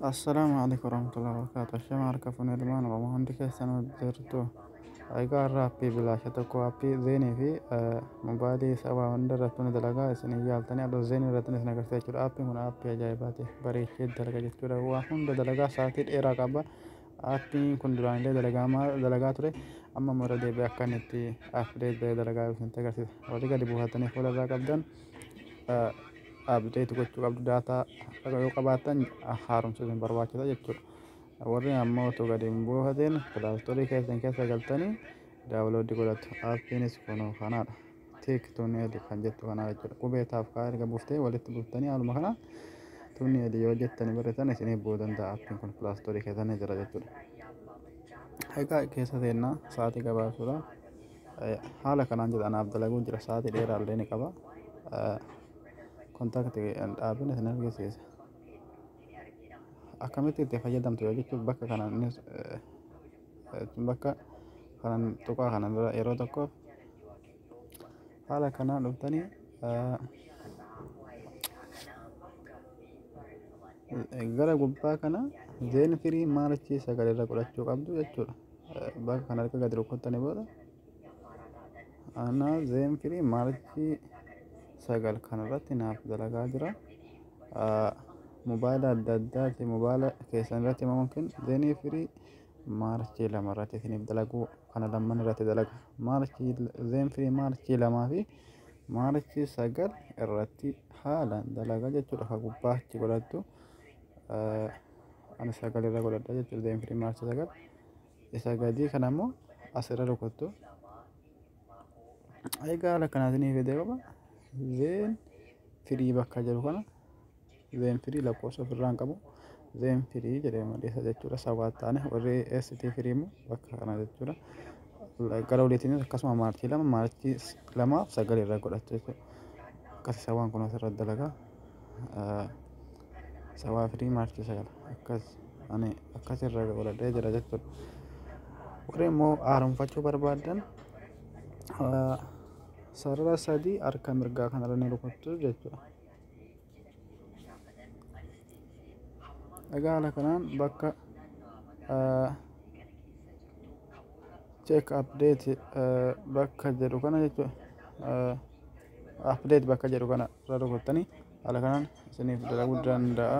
Assalaamu alaikum warahmatullahi wabarakatuh. Shema harka fuunee ilmaan Oromoo hundi keessan jirtu. Egaa har'a appii bilaasha tokko appii zeenii fi mobaayilii sabaa hunda irratti ni dalagaa isin hin yaaltanii adoo zeenii irratti isin agarsiisa jechuudha. Appiin kun appii ajaa'ibaati. Bareechee dalaga jechuudha. Waa hunda dalagaa sa'aatii dheeraa qaba. Appiin kun duraan illee dalagaamaa dalagaa ture. Amma immoo irra deebi'ee akka inni itti appideet dalagaa isin agarsiisa. Warri gadi buufatanii fuula irraa qabdan. update gochuu qabdu daataa yoo qabaattan haaromsuun hin barbaachisa jechuudha. Warri ammoo otoo gadi hin buufatiin pilaastoorii keessan keessa galtanii daawuloodii godhatu. Appiinis kunoo kanaadha. Tiik tuuneeli kan jettu kanaa jechuudha. Qubee taaf kaa erga buuftee walitti buuftanii haaluma kanaan tuuneeli yoo jettanii barreessan isiniif bu'uu danda'a. Appiin kun pilaastoorii keessa ni jira jechuudha. Egaa keessa seennaa sa'aatii gabaabsuudhaan Haala kanaan jedha anaaf dalaguu jira sa'aatii dheeraa illee ni qaba. Kontaakti dhaabina isin argisiisa. Akkamitti itti fayyadamtu yoo jechuun bakka kana bakka kanan tuqaa kana bira yeroo tokko haala kanaan dhuftanii gara gubbaa kana zeen firii maalichii sagalee irra godhachuu qabdu jechuudha. bakka kana erga gadi rukkuttanii booda aanaa zeen firii maarchii sagal kanarratti naaf dalagaa jira mobaayila adda addaati mobaayila keessan irratti yookiin zeenii firii maarchii lama irratti isiniif dalaguu kana lamman irratti dalaga maarchii zeen firii maarchii lamaa fi maarchii sagal irratti haalaan dalagaa jechuudha ka gubbaa achi godhattu. ani sagal irra godhadha jechuudha deem firii maarsa sagal isa gadii kana immoo asirra rukuttu egaa haala kanaatiin ni fidee qaba zeen firii bakka jiru kana zeen firii lakkoofsa ofirraa hin qabu zeen firii jedhee maleessa jechuudha sabaa taane warri ST firii immoo bakka kana jechuudha gara oliitiin akkasuma maarchii lama maarchii lamaaf sagal irra godhattu jechuudha akkasii sabaan kun asirra dalagaa. Sabaa fi Maarchi 9 akkas ani akkas irra godhadhee jira jechuudha. Warri immoo haaromfachuu barbaadan sarara sadii harka mirgaa kanarra ni rukuttu jechuudha. Egaa haala kanaan bakka check update bakka jedhu kana jechuudha. Update bakka jedhu kana irra rukuttanii haala kanaan isiniif dalaguu danda'a.